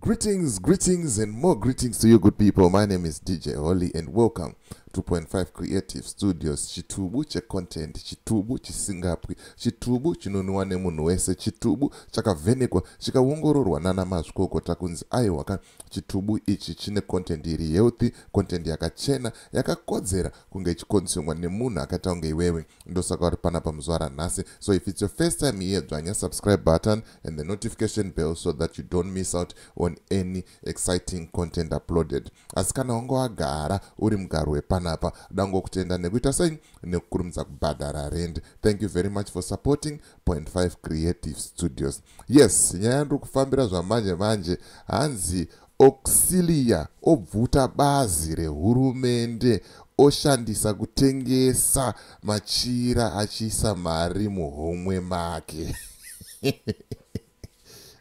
Greetings, greetings, and more greetings to you, good people. My name is DJ Holly, and welcome to 2.5 Creative Studios. Chitubu che content, chitubu chisingapwi, chitubu chinonwiwa nemunhu wese, chitubu chakavhenekwa, chikaongororwa nana mazvikokota kunzi aiwa ka chitubu ichi chine content iri healthy, content yakachena, yakakodzera kunge ichikonsumwa nemunhu akaita kunge iwewe. ndosaka uri panapa muzuva ranhasi so if it's your first time here dzvanya subscribe button and the notification bell so that you don't miss out on any exciting content uploaded asi kana wange wagara uri mugaro wepanapa dangokutenda nekuita sei nekukurumidza kubhadhara rend thank you very much for supporting point 5 creative studios yes nyaya ndiri kufambira zvamanje manje hanzi Auxilia obvuta bazi rehurumende oshandisa kutengesa machira achiisa mari muhomwe make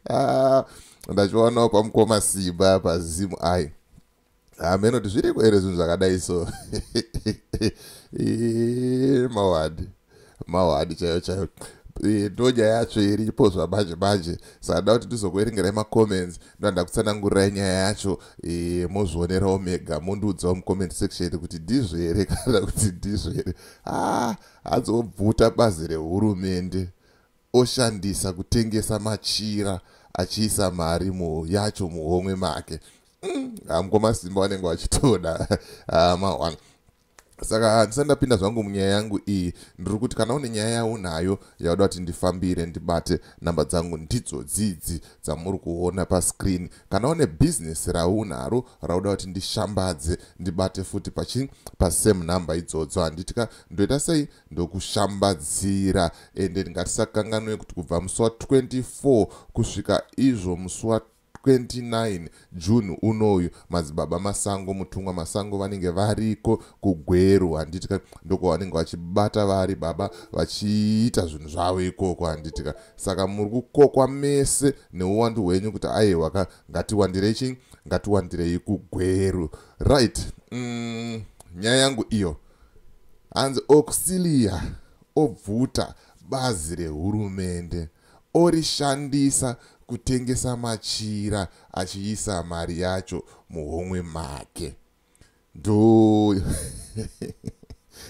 ah, ndachionawo pamukoma simba pazimu ai hameno ah, kuti zviriko here zvinhu zvakadai so mawadi mawani chaiyo chaiyo eh, ndonyaya yacho iripo zvamanje manje sanda kuti ndizokuerengerai macomments ndoanda kutsanangurirai nyaya yacho eh, mozvionerawo mega mondiudzawo mucomment section kuti ndizvo here kana kuti ndizvo here ah, azobvuta bazi rehurumende oshandisa kutengesa machira achiisa mari mu yacho muhomwe make mm, hamko masimba vanenge vachitoda ah, mahwana saka handisati ndapinda zvangu munyaya yangu iyi ndiri kuti kana une nyaya yaunayo yauda kuti ndifambire ndibate namba dzangu ndidzo dzidzi dzamuri kuona pascreen kana une bhizinesi raunaro rauda kuti ndishambadze ndibate futi pachi pasame number idzodzo handiti ka ndoita sei ndokushambadzira ende ndingatisakanganwe kuti kubva musi wa 24 kusvika izvo musi wa 29 June unoyu madzibaba Masango mutumwa Masango vanenge variko kuGweru handitika ndoko vanenge vachibata vari baba vachiita zvinhu zvavo ikoko handitika saka muri kukokwa mese neuwandu hwenyu kuti aiwa ka ngatiwandirei chii ngatiwandirei kuGweru right mm, nyaya yangu iyo hanzi auxilia obvuta bazi rehurumende orishandisa kutengesa machira achiisa mari yacho muhomwe make ndo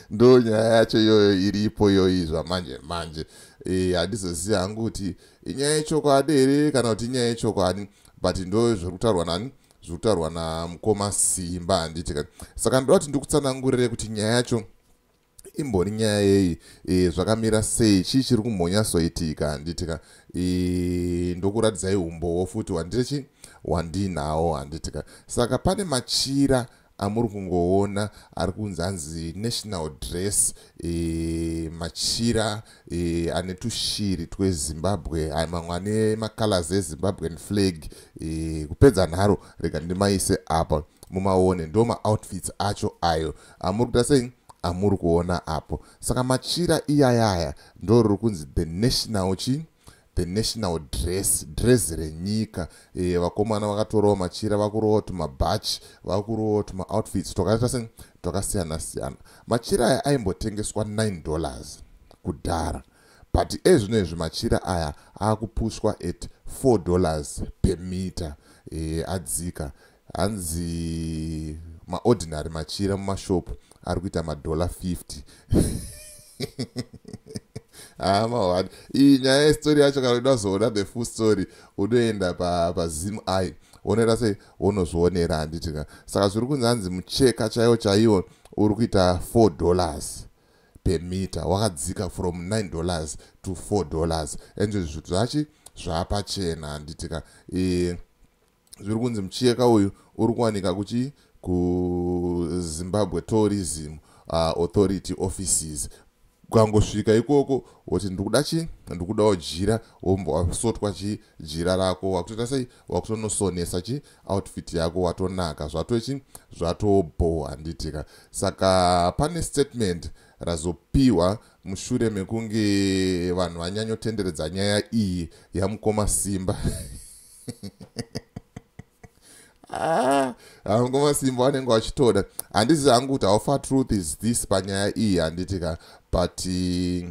ndo nyaya yacho iyoyo iripo iyoyi zvamanje manje eh, handizozivi hangu kuti inyaya yechokwadi here kana kuti inyaya yechokwadi but ndo zviri kutaurwa nani zviri kutaurwa namukoma simba handiti kani saka ndoda kuti ndikutsanangurire kuti nyaya yacho imbori nyaya yei e, zvakamira sei chii chiri kumhonyasoitika handiti ka e, ndokuratidzai umbowo futi wanditi chi wandinawo handiti ka saka pane machira amuri kungoona ari kunzi anzi national dress e, machira e, ane tushiri twezimbabwe mamwe ane macolors ezimbabwean flag e, kupedza nharo rega ndimaise apa mumaone ndo maoutfits acho ayo amuri kuda sei amuri kuona apo saka machira iyayaya ndo riri kunzi the national chii the national dress dress renyika e, vakomana vakatorawo machira vakurowa tumabhachi vakurowa tumaoutfits twakaita se twakasiyana siyana machira aya aimbotengeswa 9 dollars kudhara but ezvino izvi machira aya akupushwa at 4 dollars per meter e, adzika hanzi maordinary machira mumashop ari kuita madollar 50 amawani ah, iyi nyaya yestori yacho kana uida kuzoona the full story unoenda pazim pa i wonoita sei wonozvionera handiti ka saka zviri kunzi hanzi mucheka chaiwo chaiwo uri kuita 4 dollars per meter wakadzika from 9 dollars to 4 dollars and zvachi zvapachena handiti ka e, zviri kunzi mucheka uyu uri kuwanika kuchi kuzimbabwe tourism uh, authority offices ukangosvika ikoko woti ndikuda chi ndikudawo jira wombo wakusotwa chi jira rako wakutoita sei wakutonosonesa chi outfit yako watonaka zvatochi zvatobho handitika saka pane statement razopiwa mushure mekunge vanhu vanyanyotenderedza nyaya iyi yamukoma simba hangu ah, masimbo anenge vachitoda handizi hangu kuti how far truth is this panyaya iyi handiti ka but uh,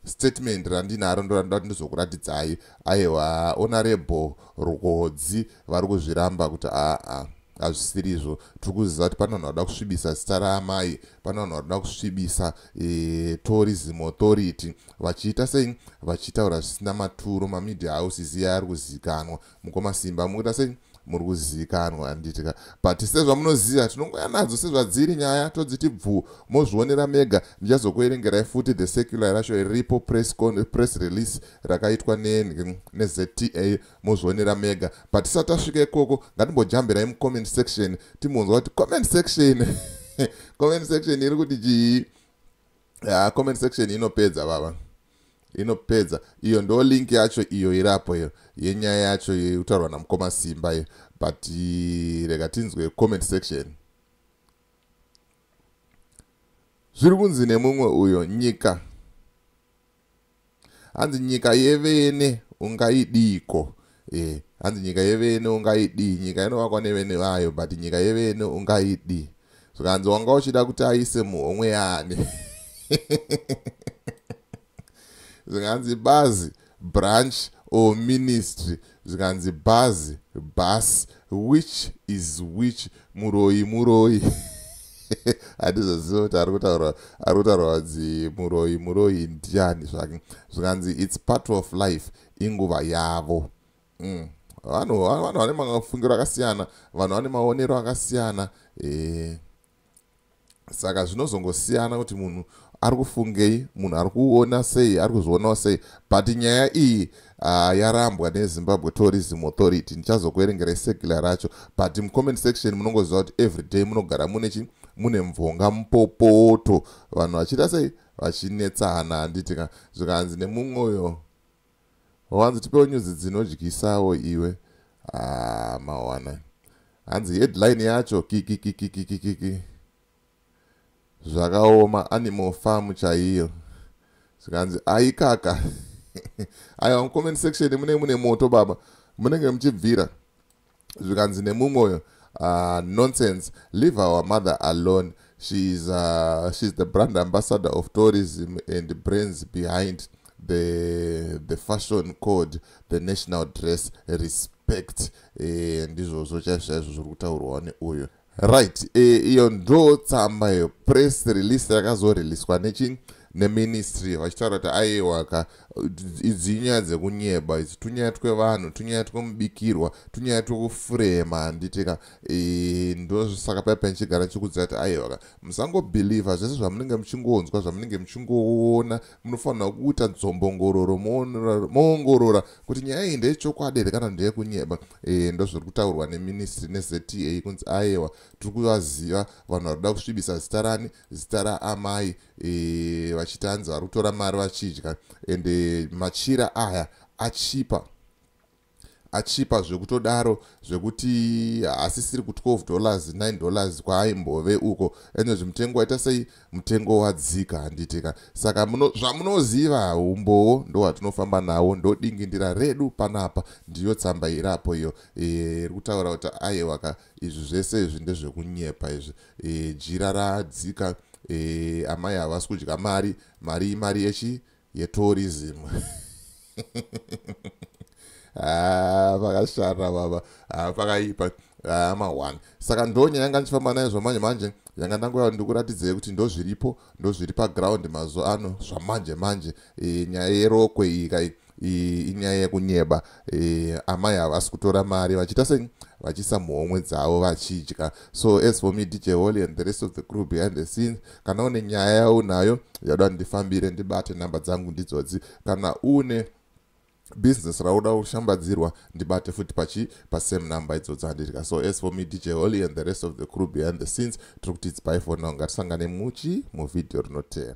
statement randinaro ndorandida kuti ndizokuratidzai aiwa onarebho rukodzi vari kuzviramba kuti aa ah, ah, hazvisiri izvo tiri kuziva kuti pane vanhu vada kusvibisa zita raamai pane vanhu vada kusvibisa e, tourism authority vachiita sei vachitaura zvisina maturo mamedia house ziya ari kuzikanwa mukoma simba mukuita sei muri kuzikanwa handitika but sezvamunoziva tinongoya nadzo sezvadziri nyaya todziti bvuu mozvionera mega ndichazokuerengerai futi the secular racho riripo press, press release rakaitwa nezta mozvionera mega but tisati tasvika ikoko ngatimbojambirai mucomment section timbonzwa kuti comment section comment section iri kuti chii yeah, comment section inopedza baba inopedza iyo ndo link yacho iyo irapo iyo yenyaya yacho yekutaurwa namukoma simba iyo but rega tinzwe comment section zviri kunzi nemumwe uyo nyika hanzi nyika yevene ungaidiiko e hanzi nyika yevene ungaidii nyika inovakwa nevene vayo but nyika yevene ungaidii zvikanzi wanga uchida kuti aise muhomwe yaani zvikanzi bazi branch or ministry zvikanzi bhazi bus which is which muroyi muroyi handizoziva kuti ari kutaura ari kutaura vadzi muroyi muroyi ndiani zvake zvikanzi its part of life inguva yavo mm. vanhu vanhu vane mafungiro akasiyana vanhu vane maonero akasiyana ee eh. saka zvinozongosiyana kuti munhu ari kufungei munhu ari kuona sei ari kuzvionawo sei but nyaya iyi uh, yarambwa nezimbabwe tourism authority ndichazokuerengera isekila racho but mucomment section munongoziva kuti everyday munogara mune chi mune mvonga mupopoto vanhu vachiita sei vachinetsana handiti ka zvikanzi nemumwoyo Wanzi tipewo nyuzi dzinodyisawo iwe. Ah, mawana. Hanzi headline yacho kikikikikikiki. Zvakaoma animal farm chaiyo. Zvikanzi aikaka. Aiwa comment section mune mune moto baba. Munenge muchibvira. zvikanzi nemumwe uyo uh, nonsense leave our mother alone she is, uh, she is the brand ambassador of tourism and brains behind the, the fashion code the national dress respect eh, ndizvozvo chaizvo chaizvo zviri kutaurwa neuyo right e, iyo ndo tsamba iyo press release yakazoriliswa nechin neministry vachitaura kuti aiwaka idzi inyaya dzekunyeba idzi tunyaya twevanhu tunyaya twemubikirwa tunyaya twekufurema handitika e, ndosaka paya panichigara chikudzira kuti aiwaka musangobhilivha zvese zvamunenge muchingonzwa zvamunenge muchingoona munofanirwa kuita dzombongororo moongorora kuti nyaya iyi ndeyechokwadi here kana ndeyekunyeba e, ndozviri kutaurwa neministry nezta kunzi ayewa tiri kuvaziva vanhu vari kuda kusvibisa zita rani zita raamai e, vachiti hanzi vari kutora mari vachidya ende machira aya achipa achipa zvekutodaro zvekuti haasisiri ku 12 dollars 9 dollars kwaaimbove uko ende zvimutengo waita sei mutengo wadzika handitika saka zvamunoziva umbowo ndowatinofamba nawo ndodingindira redu panapa ndiyo tsamba irapo iyo e, iri kutaura kuti aiwaka izvi zvese izvi ndezvekunyepa izvi e, jira radzika e, amai havasi kudya mari mari imari yechi e, yetourism ah, pakashara baba ah, pakaipa ah, mahwani saka ndonya yanga ndichifamba nayo zvamanje manje yanga ndangoya ndikuratidzei kuti ndozviripo ndozviri paground mazuva ano zvamanje manje eh, nyaya yerokwe iyi kai inyaya yekunyeba e, amai ava vasi kutora mari vachiita sei vachisa muhomwe dzavo vachidya so as for me dj holy and the rest of the crew behind the scenes kana une nyaya yaunayo yauda ndifambire ndibate namba dzangu ndidzodzi kana une business rauda kushambadzirwa ndibate futi pachi pasame number idzodzi handidya so as for me dj holy and the rest of the crew behind the scenes tiri kuti its by for now ngatisangane muchi muvhidhiyo rinotera